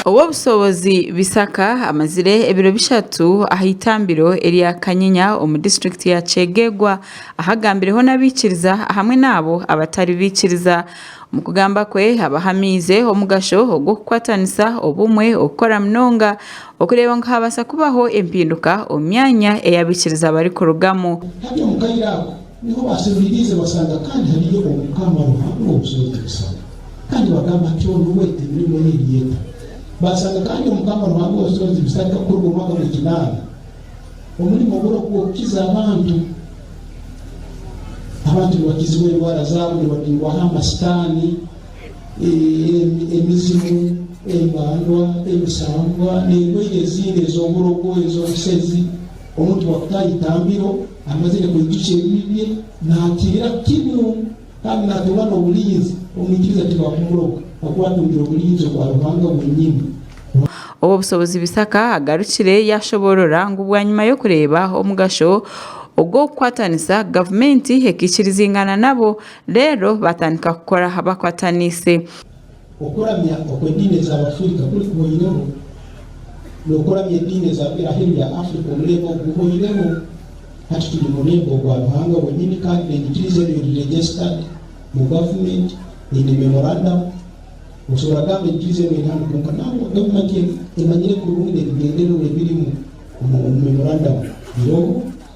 Ow'obushobozi Bisaka amazire ebiro bishatu aha itambiro erya Kanyenya omu disiturikiti ya Kyegegwa ahu agambireho n'abaikiriza hamwe n'abo abatari baikiriza. Omu kugamba kwe abahamiize omugasho ogw'okukwatanisa, obumwe, okukora munonga okureeba ngu haabaasa kubaho empinduka omu myanya ei abaikiriza barikurugamu. Niho baasemeriize basanga kandi hariyo Omukama Ruhanga ow'obusyo n'ebishushani, kandi bagamba nti, Onu we, emirimo ye eri eta? Baasanga kandi Omukama Ruhanga ow'obusyo n'ebishushani takukuruga omu mwaka gw'ekinaana, omurimo gwe oku gw'okukiza abantu. Abantu nibakizibwa endwara zaabo, nibabingwaho amasitaani, e, emizimu, embandwa, emisambwa, n'endwaire ezindi ez'oburogo, ez'obusezi, omuntu bwakutaaha eitambiro. Amazire kuhigikya ebibi bye, naakirira kinu kandi naatungwa n'oburinzi. Omwikiriza tibakumuroga, ahakuba atungire oburinzi obwa Ruhanga bwenyini. Ruhanga. Obwo bushobozi Bisaaka agarukire yaashoboorora ngu bwanyima y'okureeba omugasho ogw'okukwatanisa, gavumenti ekaikirizingana nabo reero baatandika kukora bakwataniise. Okuramya oku ediini ez'Abafirika kurikuhoireho n'okuramya ediini ez'Abiraheru ya Afrika omuringo ogu guhoireho, hati turi muringo gwa Ruhanga wenyini kandi n'enyikiriza enu eri registered mu government, eine memorandum, okusobora kugamba enyikiriza enu eri hanu kwonka nangwa government emanyire kurungi n'ebigendererwa ebirimu omu memorandum biroho.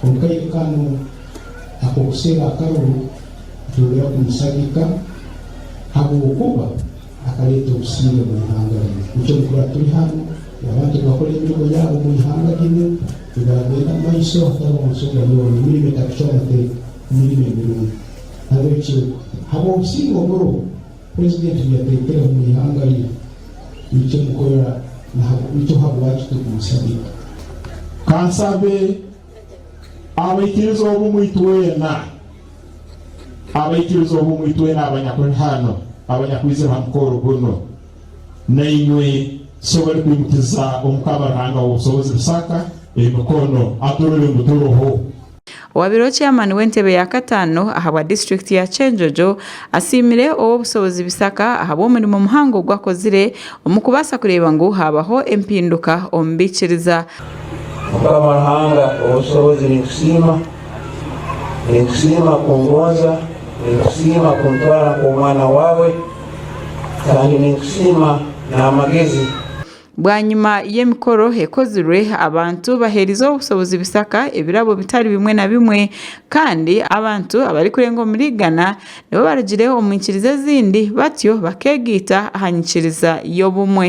Kwonka aine kano ak'okusheba akaru nitwongera kumushagika ahabw'okuba akareeta obusiime omu ihanga rye. Nikyo nikura turi hanu, yaba nitugakora emirimo yaabo omu ihanga ryenu, nigaagenda omu maisho hatariho nshonga yoona, emirimo etakucwa amateeka, emirimo emirungi. Nahabwekyo habw'obusiime oburiho, Purezidenti yateekera omu ihanga rye nikyo mukorera nikyo habwaki turikumusabiira. Ka nsabe abaikiriza obumwe itwena, abaikiriza obumwe itwena abanyakuri hanu, abanyakwizire ha mukoro gunu, nainywe Sebo arikwimutiza Omukama Ruhanga w'obusobozi Rusaaka emikono aturore ngu turiho. Owaabaire Chairman w'entebe ya kataano ahabwa disiturikiti ya Kyenjojo asiimire ow'obushobozi Bisaka ahabw'omurimo muhango ogu akozire omu kubaasa kureeba ngu haabaho empinduka omu baikiriza. Mukama Ruhanga ow'ebishobozi ninkusiima, ninkusiima kungonza, ninkusiima kuntwara nk'omwana waawe kandi ninkusiima n'amagezi. Bwanyima y'emikoro ekozirwe, abantu baheereize obushobozi Bisaka ebirabo bitari bimwe na bimwe kandi abantu abarikurenga omuri igana nibo barugire omu nyikiriza ezindi batyo bakeegaita aha nyikiriza y'obumwe.